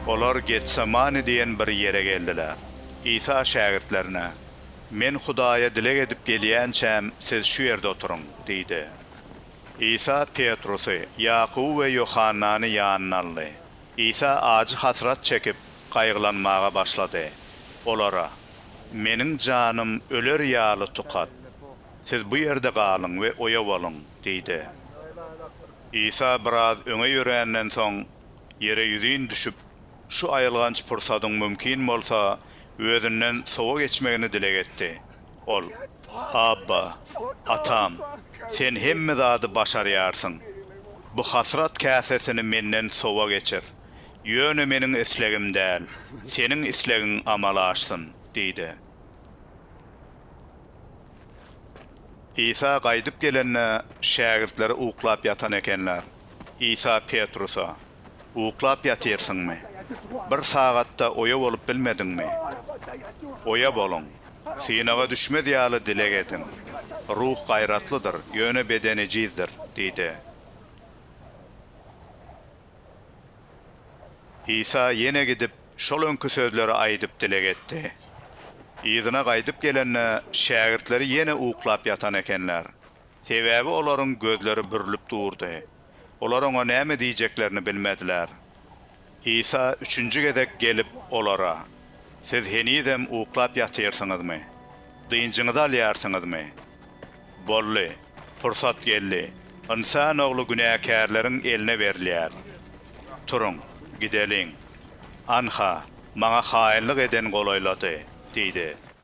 Olar Getsemane diýen bir ýere geldiler. Isa şägirtlerine, Men Hudaýa dileg edip gelýänçäm, siz şu ýerde oturyň! diýdi. Isa Petrusy, Ýakuby we Ýohannany ýanyna aldy. Isa ajy hasrat çekip, gaýgylanmaga başlady. Olara, Meniň janym öler ýaly tukat. Siz bu ýerde galyň we oýa boluň. Diýdi. Isa biraz öňe ýöränden soň, ýere ýüzin düşüp, şu aýylganç pursadyň mümkin bolsa, özünden sowa geçmegini dileg etdi. Ol, Abba, Atam, Sen hemme zady başarýarsyň. Bu hasrat käsesini menden sowa geçir. Ýöne meniň islegim däl, Seniň islegiň amala aşsyn! diýdi. Isa gaýdyp gelende, şägirtleri uklap ýatan ekenler. Isa Petrusa, Uklap ýatyrsyňmy? Bir sagat-da oýa bolup bilmediňmi? Oýa boluň. Synaga düşmez ýaly dileg ediň. Ruh gaýratlydyr, ýöne beden ejizdir diýdi. Isa ýene gidip, şol öňki sözleri aýdyp dileg etdi. Yzyna gaýdyp gelende, şägirtleri ýene uklap ýatan ekenler. Sebäbi olaryň gözleri bürlüp durdy. Olar oňa näme diýjeklerini bilmediler. Isa üçünji gezek gelip, olara, Siz henizem uklap ýatyrsyňyzmy? Dynjyňyzy alýarsyňyzmy? Boldy, pursat geldi. Ynsan ogly günäkärleriň eline berilýär. Turuň, gideliň. Anha, maňa haýynlyk eden golaýlady, diýdi.